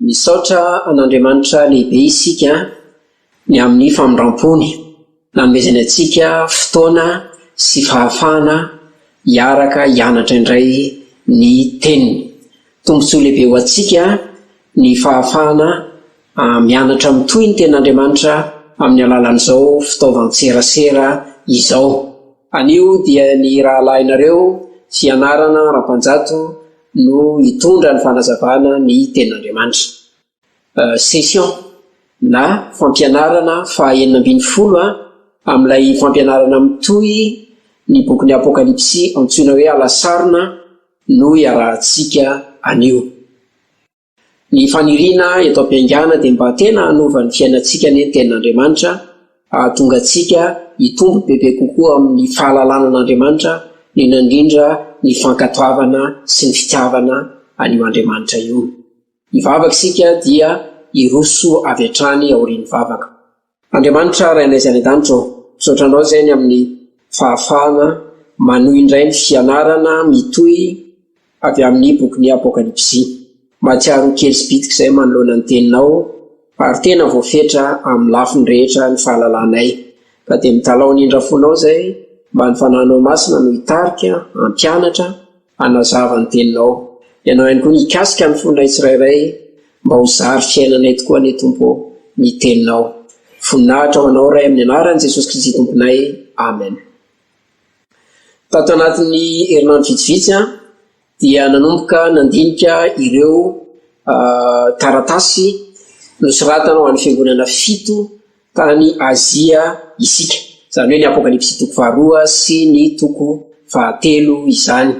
Misaotra an'Andriamanitra lehibe isika ny amin'ny famindram-pony nanomezany antsika fotoana sy fahafahana hiaraka hianatra indray ny Teniny. Tombontsoa lehibe ho antsika ny fahafahana mianatra mitohy ny Tenin'Andriamanitra amin'ny alalan'izao fitaovan-tserasera izao. Anio dia ny rahalahinareo Fianarana Rampanjato no hitondra ny fanazavana ny tenin'Andriamanitra. Session na fampianarana faha enina ambin'ny folo amin'ilay fampianarana mitohy ny bokin'ny Apokalypsy antsoina hoe Alasarona no iarahantsika anio. Ny faniriana eto am-piangana dia mba tena hanova ny fiainantsika anie ny Tenin'Andriamanitra, hahatonga antsika hitombo bebe kokoa amin'ny fahalalana an'Andriamanitra, indrindra indrindra ny fankatoavana sy ny fitiavana an'io Andriamanitra io. Hivavaka isika dia hiroso avy hatrany aorian'ny vavaka. Andriamanitra Rainay izay any an-danitra ô, misaotra Anao izay ny amin'ny fahafahana manohy indray ny fianarana mitohy avy amin'ny bokin'ny Apokalypsy. Mahatsiaro ho kely sy bitika izay manoloana ny Teninao ary tena voafetra amin'ny lafiny rehetra ny fahalalanay. Ka dia mitalaho ny indra fonao izay mba ny Fanahinao Masina no hitarika, hampianatra, Hanazava ny teninao, ianao ihany koa, mikasika ny fonay tsirairay, mba ho zary fiainanay tokoa anie, Tompo ô, ny teninao. Voninahitra ho anao, Ray, amin'ny anaran'i Jesosy Kristy Tomponay. Amen. Tato anatin'ny herinandro vitsivitsy aho dia nanomboka nandinika ireo taratasy nosoratana ho an'ny fiangonana fito tany Azia isika, izany hoe ny Apokalypsy toko faharoa sy ny toko fahatelo izany.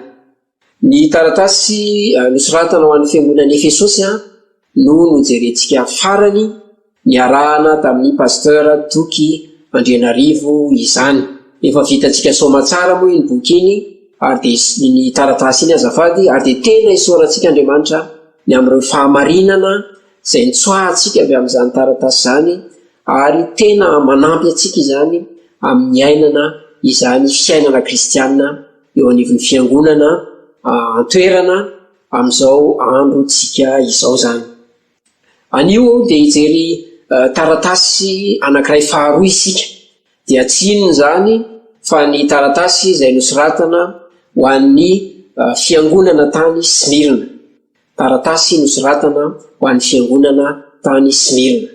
Ny taratasy nosoratana ho an'ny fiangonan'i Efesosy no nojerentsika farany, niarahana tamin'i Pasteur Toky Andrianarivo izany. Efa vitantsika saoma tsara moa iny boky iny ary dia, iny taratasy iny azafady, ary dia tena isaorantsika Andriamanitra ny amin'ireo fahamarinana izay nitsoahantsika avy amin'izany taratasy izany, ary tena manampy antsika izany amin'ny niainana izany fiainana kristianina eo anivon'ny Fiangonana an-toerana amin'izao androntsika izao izany. Anio aho dia hijery taratasy anankiray faharoa isika, dia tsy inona izany fa ny taratasy izay nosoratana ho an'ny Fiangonana tany Smyrna. Taratasy nosoratana ho an'ny Fiangonana tany Smyrna.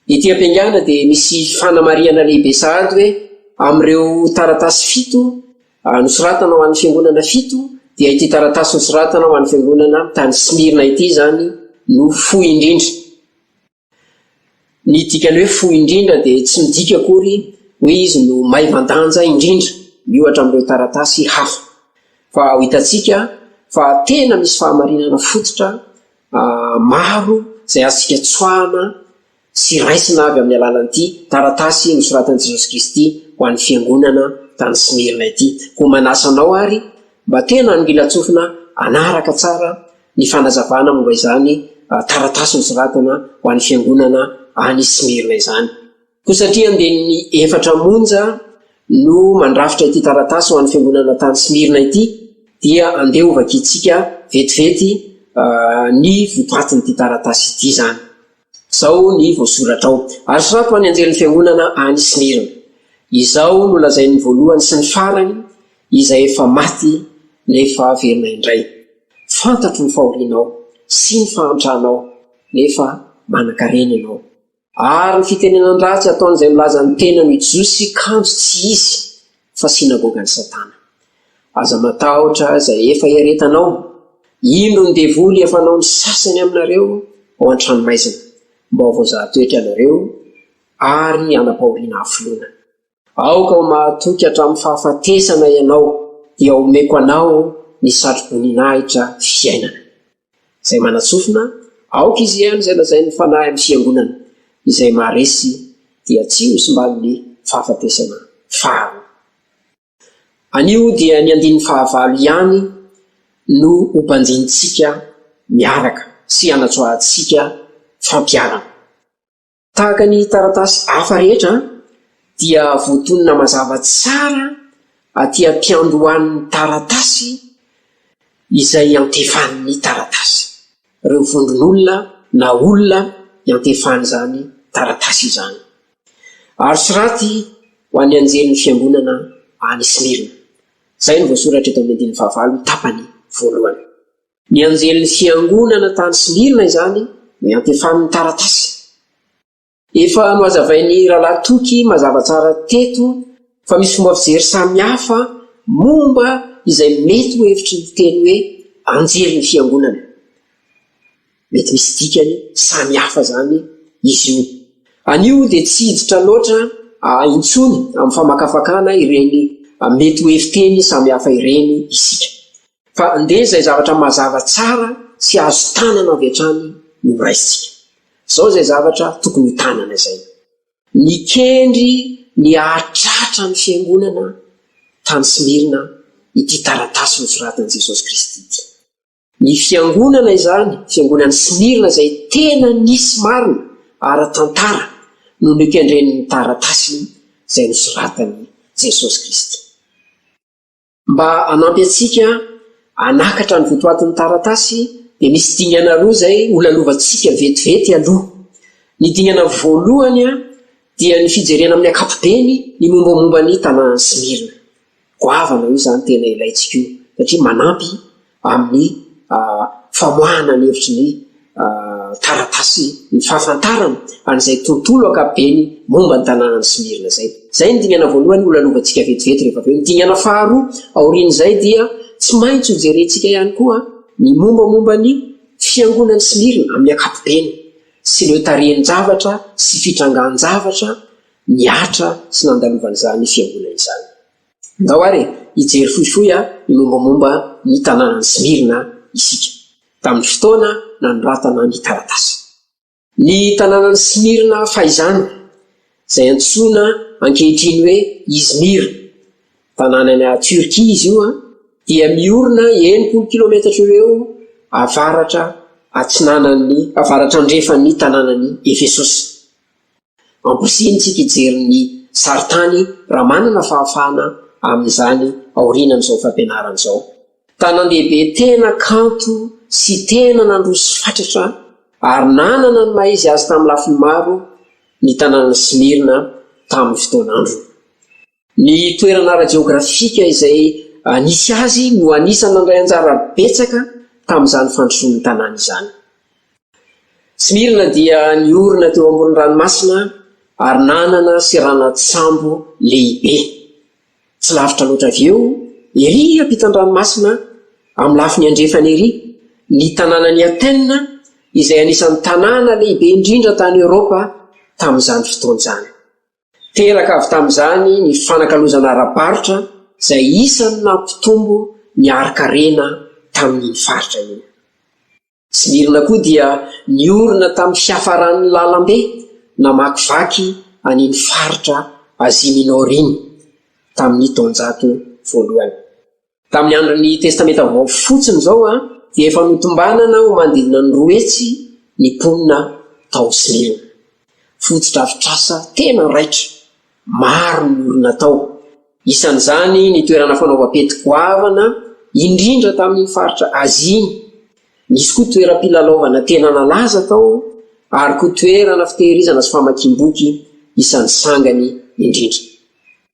Ity am-piangana dia misy fanamarihana lehibe sahady hoe amin'ireo taratasy fito nosoratana ho an'ny Fiangonana fito dia ity taratasy nosoratana ho an'ny Fiangonana tany Smyrna ity izany no fohy indrindra. Ny dikan'ny hoe fohy indrindra dia tsy midika akory hoe izy no maivan-danja indrindra miohatra amin'ireo taratasy hafa, fa ho hitantsika fa tena misy fahamarinana fototra maro izay azontsika tsoahana sy raisina avy amin'ny alalan'ity taratasy nosoratan'i Jesosy Kristy ho an'ny fiangonana tany Smyrna ity. Koa manasa anao àry mba tena hangilan-tsofina hanaraka tsara ny fanazavana momba izany taratasy nosoratana ho an'ny fiangonana any Smyrna izany. Koa satria andiany efatra monja no mandrafitra ity taratasy ho an'ny fiangonana tany Smyrna ity, dia andeha hovakiantsika vetivety ny votoatin'ity taratasy ity izany. Izao ny voasoratra ao, Ary soraty ho an'ny anjelin'ny fiangonana any Smyrna, Izao no lazain'ny voalohany sy ny farany, izay efa maty nefa velona indray. Fantatro ny fahorianao sy ny fahantranao, nefa manankarena ianao. Ary ny fitenenan-dratsy ataon'izay milaza ny tenany ho Jiosy kanjo tsy izy, fa sinagogan'i Satana. Aza matahotra izay efa iaretanao, indro ny devoly efa hanao ny sasany aminareo ao an-tranomaizina, mba ho voazahan-toetra ianareo ary hanam-pahoriana hafoloana. Aoka ho mahatoky hatramin'ny fahafatesana ianao, dia omeko anao ny satroboninahitra fiainana. Izay manatsofina, aoka izy hihaino izay lazain'ny Fanahy amin'ny Fiangonana, izay maharesy dia tsy hosimban'ny fahafatesana faharoa. Anio dia ny andininy fahavalo ihany no hobanjinintsika miaraka sy hanatsoahantsika fampiharana. Tahaka ny taratasy hafa rehetra dia voatonona mazava tsara aty am-piandohan'ny taratasy izay iantefan'ny taratasy, ireo vondron'olona na olona iantefan'izany taratasy izany. Aro soraty ho an'ny anjelin'ny Fiangonana any Smyrna. Izay no voasoratra eto amin'ny andininy fahavalo tapany voalohany. Ny anjelin'ny Fiangonana tany Smyrna izany no iantefany ny taratasy. Efa nohazavain'ny Rahalahy Toky mazava tsara teto fa misy fomba fijery samy hafa momba izay mety ho hevitry ny teny hoe anjelin'ny Fiangonana. Mety misy dikany samy hafa izany izy io. Anio dia tsy hiditra loatra intsony amin'ny famakafakana ireny mety ho heviteny samy hafa ireny isika. Fa andeha izay zavatra mazava tsara sy azo tanana avy hatrany no horaisintsika. Izao izay zavatra tokony ho tanana izay. Nikendry ny hahatratra ny fiangonana tany Smyrna ity taratasy nosoratan'i Jesosy Kristy ity. Ny fiangonana izany, fiangonan'i Smyrna izay tena nisy marina ara-tantara no nokendren'ny taratasy izay nosoratan'i Jesosy Kristy. Mba hanampy antsika hanakatra ny votoatin'ny taratasy dia misy dingana roa izay ho lalovantsika vetivety aloha. Ny dingana voalohany dia ny fijerena amin'ny ankapobeny ny mombamomba ny tanàn'i Smirna. Goavana io izany tena ilaintsika io satria manampy amin'ny famoahana ny hevitry ny taratasy ny fahafantarana an'izay tontolo ankapobeny momba ny tanànan'i Smyrna izay. Izay ny dingana voalohany holalovantsika vetivety rehefa avy eo. Ny dingana faharoa aorian'izay dia tsy maintsy hojerentsika ihany koa ny mombamomba ny fiangonan'i Smyrna amin'ny ankapobeny sy ireo tarehin-javatra sy fitrangan-javatra nihatra sy nandalovan'izany fiangonana izany. Ndao ary hijery fohifohy ny mombamomba ny tanànan'i Smirna isika, tamin'ny fotoana nanoratana ny taratasy. Ny tanànan'i Smirna fahizany, izay antsoina ankehitriny hoe Izmir, tanàna any Tiorkia izy io, dia miorina enimpolo kilometatra eo ho eo avaratra-atsinanan'ny avaratrandrefan'ny tanànan'i Efesosy. Amporisihitsika hijery ny sarintany raha manana fahafahana amin'izany aorianan'izao fampianarana izao. Tanan-dehibe tena kanto sy tena nandroso fatratra ary nanana ny maha izy azy tamin'ny lafiny maro ny tanànan'i Smyrna tamin'ny fotoan'androny. Ny toerana ara-jeografika izay nisy azy no anisan'ny nandray anjara betsaka tamin'izany fandrosoan'ny tanàna izany. Smirna dia niorina teo ambonin'ny ranomasina ary nanana seranan-tsambo lehibe. Tsy lavitra loatra avy eo, erỳ ampitan'ny ranomasina, amin'ny lafiny andrefana erỳ, ny tanànan'i Athènes, izay anisan'ny tanàna lehibe indrindra tany Eoropa tamin'izany fotoana izany. Teraka avy tamin'izany ny fifanakalozana ara-barotra izay isan'ny nampitombo ny harin-karena tamin'iny faritra iny. Tsimirina koa dia niorina tamin'ny fiafaran'ny lalambe namakivaky an'iny faritra Asia Minor iny tamin'ny taonjato voalohany. Tamin'ny andron'ny Testamenta Vaovao fotsiny izao dia efa notombanana ho manodidina ny roa hetsy ny mponina tao Smirna. Fotodrafitrasa tena raitra, maro ny olona tao, isan'izany ny toerana fanaovam-pety goavana indrindra tamin'iny faritra Azia iny. Nisy koa toeram-pilalaovana tena nalaza tao, ary koa toerana fitehirizana sy famakiam-boky isan'ny sangany indrindra.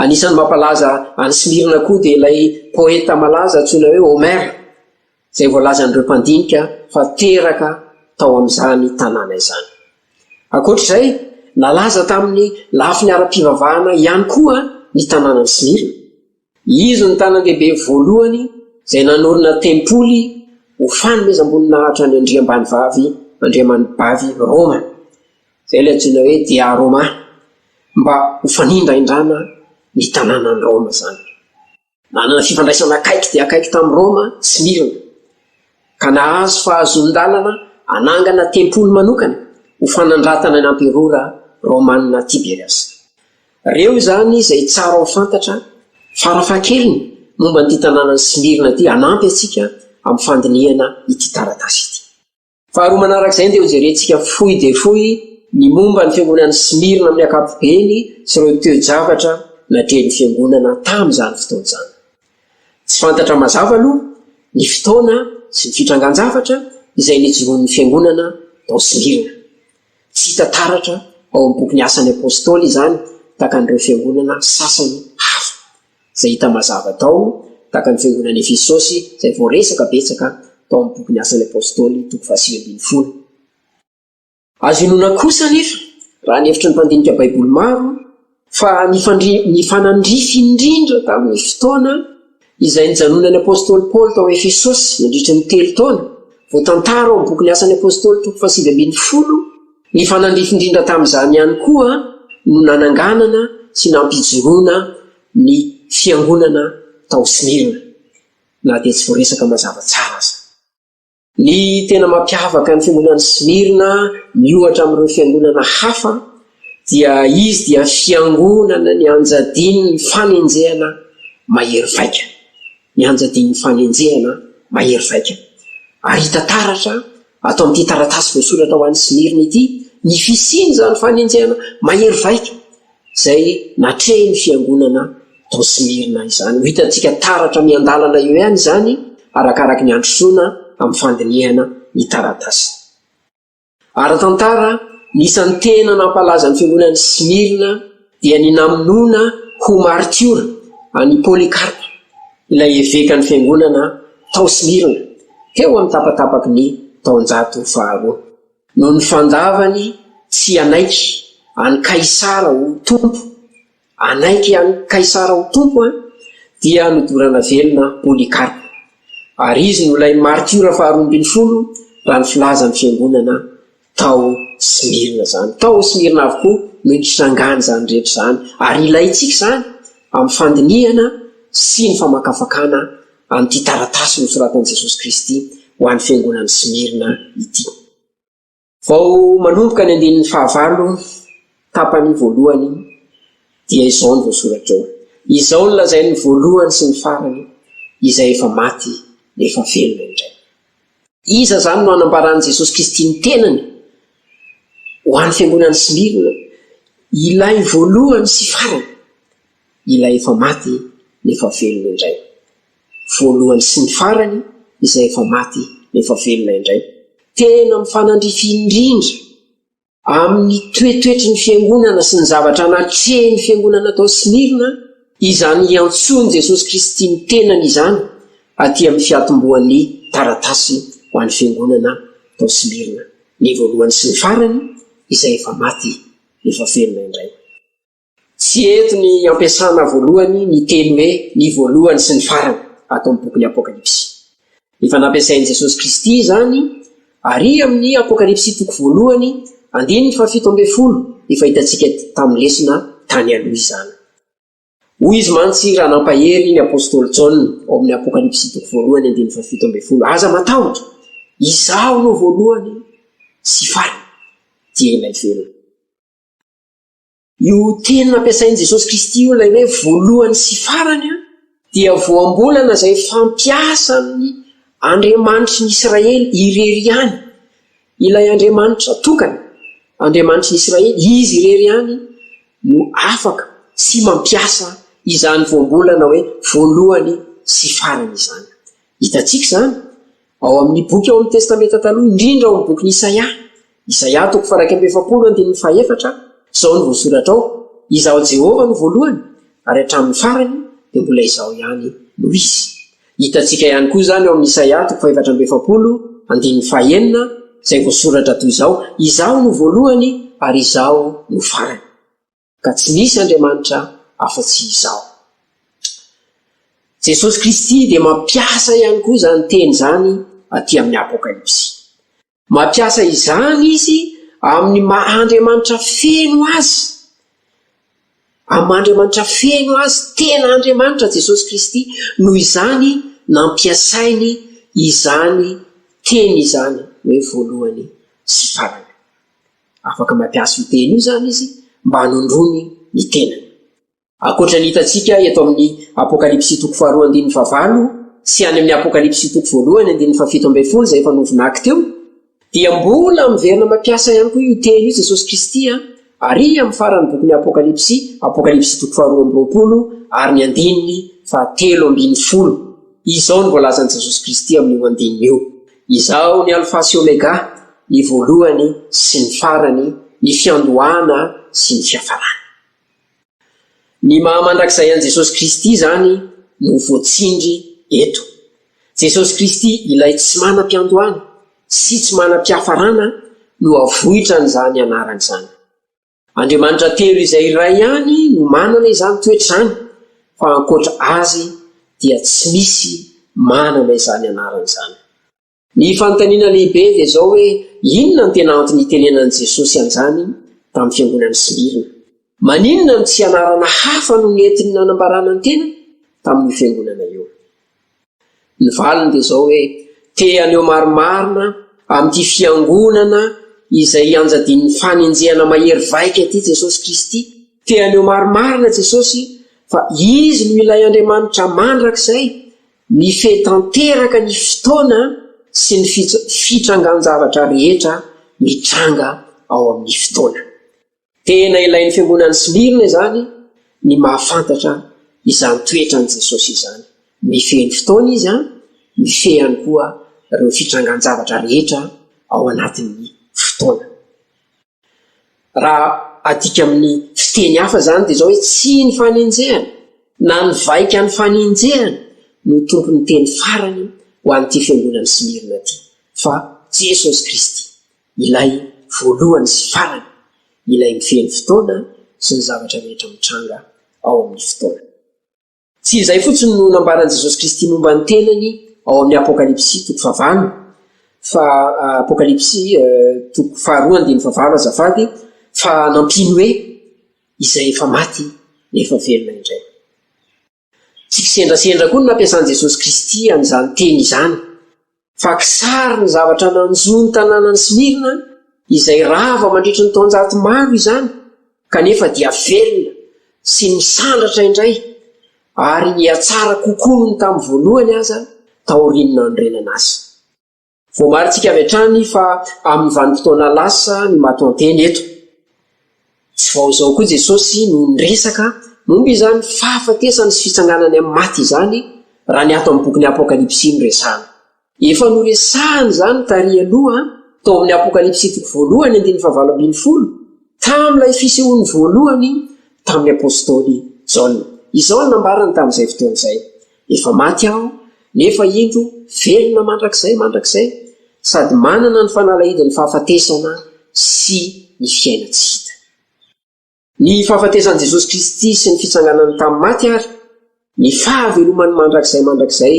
Anisan'ny mampalaza an'i Smirna koa dia ilay poeta malaza antsoina hoe Homère, izay voalazan'ireo mpandinika fa teraka tao amin'izany tanàna izany. Ankoatra izay, nalaza tamin'ny lafiny ara-pivavahana ihany koa ny tanànan'i Smirna. Izy no tanàndehibe voalohany izay nanorina tempoly ho fanomezam-boninahitra ny andriambanivavy, andriamanibavy, Rôma. Izay ilay antsoina hoe Dia Roma, mba ho fanindraindrana ny tanànan'i Roma izany. Nanana fifandraisana akaiky dia akaiky tamin'i Roma Smirna, ka nahazo fahazoan-dalana hanangana tempoly manokana ho fanandratana ny Amperora Romana Tiberiasa. Reo izany izay tsara ho fantatra farafahakeliny momba an'ity tanànan'i Smirna ity hanampy antsika amin'ny fandinihana ity taratasy ity. Faharoa manaraka izay dia hojerentsika fohy dia fohy ny momba ny fiangonan'i Smyrna amin'ny ankapobeny sy ireo toe-javatra natrehin'ny fiangonana tamin'izany fotoana izany. Tsy fantatra mazava aloha ny fotoana sy ny fitrangan-javatra izay nijoroan'ny fiangonana tao Smyrna. Tsy hita taratra ao amin'ny bokin'ny Asan'ny Apostoly izany takan'ireo fiangonana sasany hafa. izay hita mazava tao, tahaka ny Fiangonan'i Efesosy, izay voaresaka betsaka tao amin'ny bokin'ny Asan'ny Apostoly, toko fahasivy ambin'ny folo. Azo inoana kosa anefa, raha ny hevitry ny mpandinika Baiboly maro, fa nifanandrify indrindra tamin'ny fotoana izay nijanonan'ny apostoly Paoly tao Efesosy, nandritry ny telo taona, voatantara ao amin'ny bokin'ny Asan'ny Apostoly, toko fahasivy ambin'ny folo, Ny fanandrify indrindra tamin'izany ihany koa no nananganana sy nampijoroana ny Fiangonana tao Smyrna, na dia tsy voaresaka mazava tsara aza. Ny tena mampiavaka ny Fiangonan'i Smyrna miohatra amin'ireo Fiangonana hafa dia izy dia Fiangonana nianjadian'ny fanenjehana mahery vaika. Nianjadian'ny fanenjehana mahery vaika ary hita taratra ato amin'ity taratasy voasoratra ho an'i Smirna ity ny fisian'izany fanenjehana mahery vaika izay natrehin'ny fiangonana tao Smirna izany. Ho hitantsika taratra miandalana eo ihany izany arakaraky ny androsoana amin'ny fandinihana ny taratasy. Ara-tantara, ny isan'ny tena nampalaza ny fiangonan'i Smyrna dia ny namonoana ho maritiora an'i Polycarpe, ilay evekan'ny fiangonana tao Smyrna, teo amin'ny tapatapaky ny taonjato faharoa. Noho ny fandavany tsy hanaiky an'i Kaisara ho tompo Anaiky an'i Kaisara ho tompo an! Dia nodorana velona Polycarpe. Ary izy no ilay martiora faharoa ambin'ny folo raha ny filazan'ny fiangonana tao Smyrna izany. Tao Smyrna avokoa no nitrangan'izany rehetra izany. Ary ilaintsika izany amin'ny fandinihana sy ny famakafakana an'ity taratasy nosoratan'i Jesosy Kristy ho an'ny fiangonan'i Smyrna ity. Vao manomboka ny andininy fahavalo, tapany voalohany, dia izao no voasoratra eo, Izao no lazain'ny voalohany sy ny farany, izay efa maty dia efa velona indray. Iza izany no anambaran'i Jesosy Kristy ny tenany ho an'ny fiangonan'i Smirna? Ilay voalohany sy farany, ilay efa maty nefa velona indray. voalohany sy ny farany izay efa maty nefa velona indray. Tena mifanandrify indrindra amin'ny toetoetry ny Fiangonana sy ny zavatra natrehin'ny Fiangonana tao Smyrna izany hiantsoan'i Jesosy Kristy ny tenany izany aty amin'ny fiatombohan'ny taratasy ho an'ny Fiangonana tao Smyrna, ny voalohany sy ny farany izay efa maty nefa velona indray. Tsy hety ny ampiasana voalohany ny teny hoe ny voalohany sy ny farany ato amin'ny bokin'ny Apokalypsy. Efa nampiasain'i Jesosy Kristy izany àry amin'ny Apokalypsy toko voalohany, andininy fahafito ambin'ny folo, efa hitantsika tamin'ny lesona tany aloha izany. Hoy izy mantsy raha nampahery ny apostoly Jaona ao amin'ny Apokalypsy toko voalohany, andininy fahafito ambin'ny folo, Aza matahotra! Izaho no voalohany sy farany, dia Ilay Velona. Io teny nampiasain'i Jesosy Kristy io, ilay hoe voalohany sy farany, dia voambolana izay fampiasan'ny Andriamanitry ny Israely irery ihany, ilay Andriamanitra tokana, Andriamanitry ny Israely, Izy irery ihany no afaka sy mampiasa izany voambolana hoe voalohany sy farany izany. Hitantsika izany Ao amin' ny boky ao amin' ny Testamenta Taloha, indrindra ao amin' ny Bokin' i Isaia, Isaia toko faha-iraika amby efapolo andininy faha-efatra, izao no voasoratra ao, Izaho Jehovah no voalohany, ary hatramin' ny farany dia mbola Izaho ihany no hisy. Hitantsika ihany koa izany ao amin' i Isaia toko faha-efatra amby efapolo andininy faha-enina, izay voasoratra toy izao, Izaho no voalohany ary Izaho no farany. Ka tsy nisy Andriamanitra afa-tsy izaho. Jesosy Kristy dia mampiasa ihany koa izany teny izany aty amin'ny Apokalypsy. Mampiasa izany izy amin'ny maha Andriamanitra feno azy. Amin'ny maha Andriamanitra feno azy, tena Andriamanitra Jesosy Kristy, noho izany nampiasainy izany teny izany hoe voalohany sy farany. Afaka mampiasa io teny io izany izy mba hanondroany ny tenany. Ankoatra ny hitantsika eto amin'ny Apokalypsy toko faharoa andininy fahavalo sy any amin'ny Apokalypsy toko voalohany andininy fahafito ambin'ny folo izay efa novonako teo, dia mbola miverina mampiasa ihany koa io teny io Jesosy Kristy àry amin'ny faran'ny bokin'ny Apokalypsy, Apokalypsy toko faharoa amby roapolo ary ny andininy fahatelo ambin'ny folo. Izao no voalazan'i Jesosy Kristy amin'io andininy io. Izaho ny Alfa sy Omega, ny voalohany sy ny farany, ny fiandohana sy ny fiafarana. Ny maha mandrakizay an'i Jesosy Kristy izany no voatsindry eto. Jesosy Kristy ilay tsy manam-piandohana sy tsy manam-piafarana no avoitran'izany anarana izany. Andriamanitra telo izay iray ihany no manana izany toetra izany, fa ankoatra Azy dia tsy misy manana izany anarana izany. Ny fanontaniana lehibe dia izao hoe, inona no tena antony itenenan'i Jesosy an'izany tamin'ny Fiangonan'i Smirna? Maninona no tsy anarana hafa no nentiny nanambarana ny tenany tamin'io Fiangonana io? Ny valiny dia izao hoe, te haneho marimarina amin'ity Fiangonana izay ianjadian'ny fanenjehana mahery vaika ity Jesosy Kristy. Te haneho marimarina Jesosy fa Izy no ilay Andriamanitra mandrakizay mifehy tanteraka ny fotoana sy ny fitrangan-javatra rehetra mitranga ao amin'ny fotoana. Tena ilain'ny fiangonan'ny Smirna izany ny mahafantatra izany toetran'i Jesosy izany. Mifehy ny fotoana izy, ary mifehy ihany koa ireo fitrangan-javatra rehetra ao anatin'ny fotoana. Raha adika amin'ny fiteny hafa izany dia izao hoe, Tsy ny fanenjehana na ny vaika nifanenjehana no tompon'ny teny farany ho an'ity fiangonan'i Smirna ity, fa Jesosy Kristy. ilay voalohany sy farany, ilay mifehy ny fotoana sy ny zavatra rehetra mitranga ao amin'ny fotoana. Tsy izay fotsiny no nambaran'i Jesosy Kristy momba ny tenany ao amin'ny Apokalypsy toko fahavalo, fa Apokalypsy toko faharoa andininy fahavalo azafady, fa nampiany hoe, Izay efa maty nefa velona indray. Tsy kisendrasendra koa ny nampiasan'i Jesosy Kristy an'izany teny izany, fa kisary ny zavatra nanjo ny tanànan'i Smirna izay rava mandritry ny taonjato maro izany, kanefa dia velona sy misandratra indray ary nihatsara kokoa noho ny tamin'ny voalohany aza taorian'ny nanorenana azy. Voamarintsika avy hatrany fa amin'ny vanim-potoana lasa ny matoanteny eto. Tsy vao izao koa Jesosy no niresaka momba izany fahafatesana sy fitsanganany amin'ny maty izany, raha ny ato amin'ny bokin'ny Apokalypsy no resahana. Efa noresahany izany tary aloha, tao amin'ny Apokalypsy toko voalohany andininy fahavalo ambin'ny folo, tamin'ilay fisehoany voalohany tamin'ny apostoly Jaona. Izao no nambarany tamin'izay fotoana izay, Efa maty aho, nefa indro velona mandrakizay mandrakizay, sady manana ny fanalahidin'ny fahafatesana sy ny fiaina tsy hita. Ny fahafatesan'i Jesosy Kristy sy ny fitsanganany tamin'ny maty ary ny fahavelomany mandrakizay mandrakizay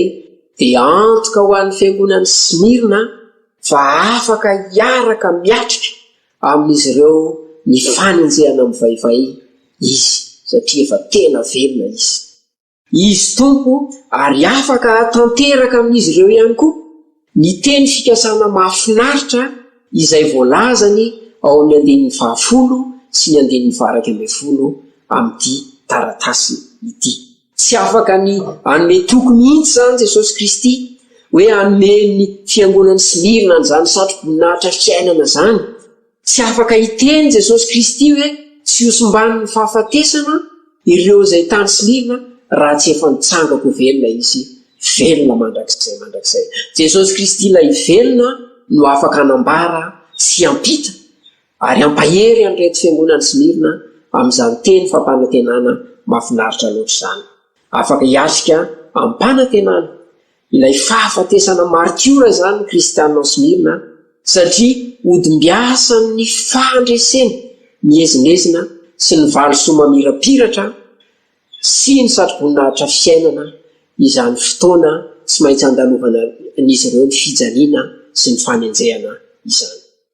dia antoka ho an'ny fiangonan'i Smyrna fa afaka hiaraka miatrika amin'izy ireo ny fanenjehana mivaivay izy, satria efa tena velona izy. Izy Tompo, ary afaka tanteraka amin'izy ireo ihany koa ny teny fikasana mahafinaritra izay voalazany ao amin'ny andininy fahafolo sy ny andininy faha-iraika ambin'ny folo amin'ity taratasy ity. Tsy afaka ny hanome toky mihitsy izany Jesosy Kristy hoe hanome ny Fiangonan'i Smirna an'izany satroboninahitra fiainana izany, Tsy afaka hiteny Jesosy Kristy hoe tsy hosimbany ny fahafatesana ireo izay tany silina raha tsy efa nitsangako ho velona izy, velona mandrakizay mandrakizay. Jesosy Kristy ilay velona no afaka hanambara sy hampita ary hampahery an'ireto fiangonan'i Smyrna amin'izany teny fampanantenana mahafinaritra loatra izany. Afaka hiatrika amim-panantenana Ilay fahafatesana maritiora izany Kristianina ao Smyrna satria hodimbiasan'ny fandreseny miezinezina sy ny valisoa mamirapiratra sy ny satroboninahitra fiainana izany fotoana tsy maintsy andalovan'izy ireo ny fijaliana sy ny fanenjehana izany.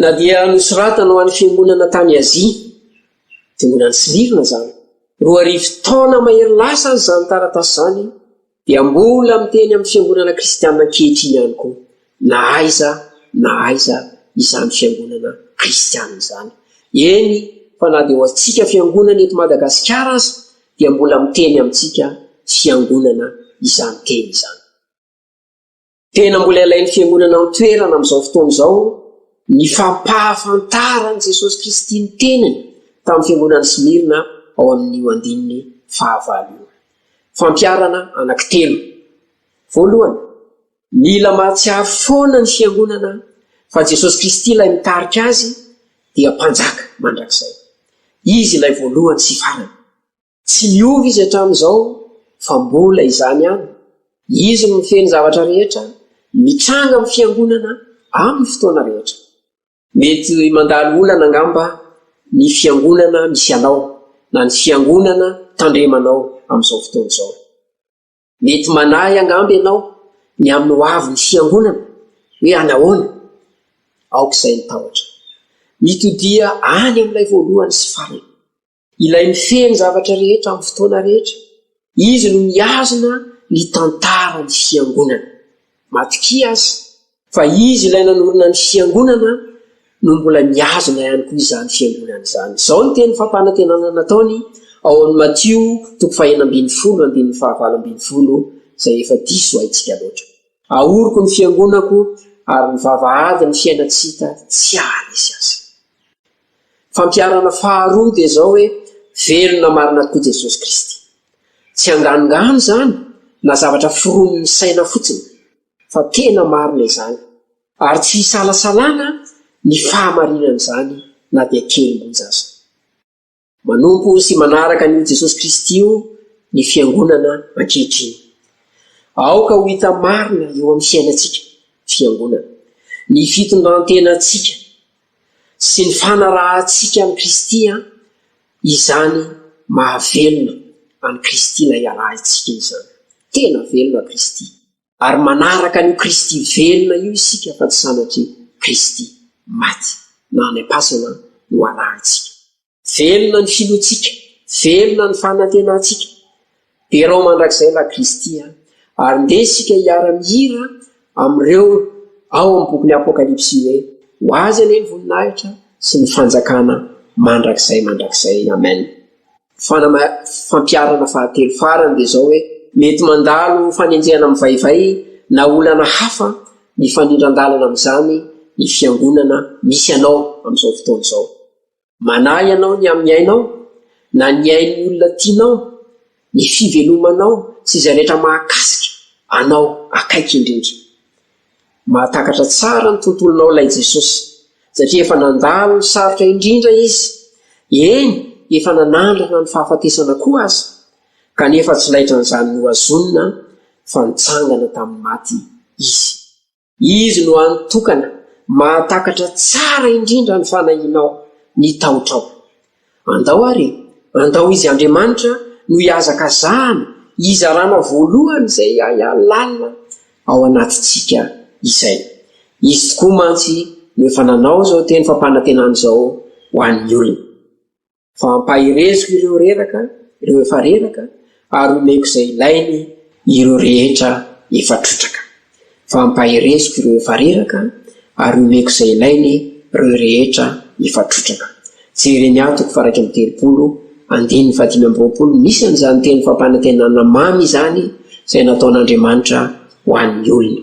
Na dia nosoratana ho an'ny fiangonana tany Azia, dia mbola ny Smirna izany. Roa arivo taona mahery lasa aza izany taratasy izany dia mbola miteny amin'ny fiangonana kristianina ankehitriny ihany koa, na aiza na aiza izany fiangonana kristianina izany. Eny fa na dia ho antsika fiangonana eto Madagasikara aza dia mbola miteny amintsika fiangonana izany teny izany. Tena mbola ilain'ny fiangonana an-toerana amin'izao fotoana izao ny fampahafantaran'i Jesosy Kristy ny tenany tamin'ny fiangonan'i Smyrna ao amin'io andininy fahavalo io. Fampiharana anankitelo. Voalohany, mila mahatsiaro foana ny fiangonana fa Jesosy Kristy ilay mitarika azy dia Mpanjaka mandrakizay. Izy ilay voalohany sy farany. Tsy miova Izy hatramin'izao, fa mbola izany ihany. Izy no mifehy ny zavatra rehetra, mitranga amin'ny Fiangonana amin'ny fotoana rehetra. Mety mandalo olana angamba ny Fiangonana misy anao, na ny Fiangonana tandremanao amin'izao fotoana izao. Mety manahy angamba ianao ny amin'ny hoavin'ny Fiangonana, hoe anahoana? Aoka izay ny tahotra. Mitodia any amin'ilay voalohany sy farany. Ilay mifehy ny zavatra rehetra amin'ny fotoana rehetra. Izy no mihazona ny tantaran'ny Fiangonana. Matokia aza fa Izy ilay nanorina ny Fiangonana no mbola mihazona ihany koa izany Fiangonana izany. Izao ny teny fampanantenana nataony ao amin'ny Matio toko fahenina ambin'ny folo andininy fahavalo ambin'ny folo izay efa diso haintsika loatra. Ahoriko ny Fiangonako ary ny vavahadin'ny fiaina tsy hita tsy haharesy azy. Fampiharana faharoa dia izao hoe, Velona marina tokoa Jesosy Kristy. Tsy anganongano izany na zavatra foronin'ny saina fotsiny, fa tena marina izany, ary tsy isalasalana ny fahamarinan'izany na dia kely monja aza. Manompo sy manaraka an'io Jesosy Kristy io ny Fiangonana ankehitriny. Aoka ho hita marina eo amin'ny fiainantsika, Fiangonana, ny fitondrantenantsika, sy ny fanarahantsika an'i Kristy an, izany mahavelona an'i Kristy na iarahintsika izany. Tena velona Kristy, ary manaraka an'io Kristy velona io isika fa tsy sanatria Kristy maty na any am-pasana no arahintsika. Velona ny filohantsika, velona ny fanantenantsika. Derao mandrakizay la Kristy a! Ary ndeha isika hiara-mihira amin'ireo ao amin'ny bokin'ny Apokalypsy hoe, Ho Azy anie ny voninahitra sy ny fanjakana mandrakizay mandrakizay. Amen. Fanama, fampiharana fahatelo farany dia izao hoe, Mety mandalo fanenjehana mivaivay na olana hafa mifanindran-dalana amin'izany ny Fiangonana misy anao amin'izao fotoana izao. Manahy anao ny amin'ny ainao, na ny ain'ny olona tianao, ny fivelomanao sy izay rehetra mahakasika anao akaiky indrindra. Mahatakatra tsara ny tontolonao ilay Jesosy, satria efa nandalo ny sarotra indrindra Izy, eny, efa nanandrana ny fahafatesana koa aza, kanefa tsy laitran'izany nohazonina fa nitsangana tamin'ny maty Izy. Izy no hany tokana mahatakatra tsara indrindra ny fanahianao, ny tahotrao. Andao àry, andao Izy Andriamanitra no hihazakazahana, hizarana voalohany izay ahiahy lalina ao anatintsika izay. Izy tokoa mantsy no efa nanao izao teny fampanantenana izao ho an'ny olony. fa hampahereziko ireo reraka, ireo efa reraka, ary homeko izay ilainy ireo rehetra efa trotraka. Fa hampahereziko ireo efa reraka, ary homeko izay ilainy ireo rehetra efa trotraka. Jereny ahy toko faharaika amby telopolo, andininy fahadimy amby roapolo, misy an'izany teny fampanantenana mamy izany izay nataon'Andriamanitra ho an'ny olona.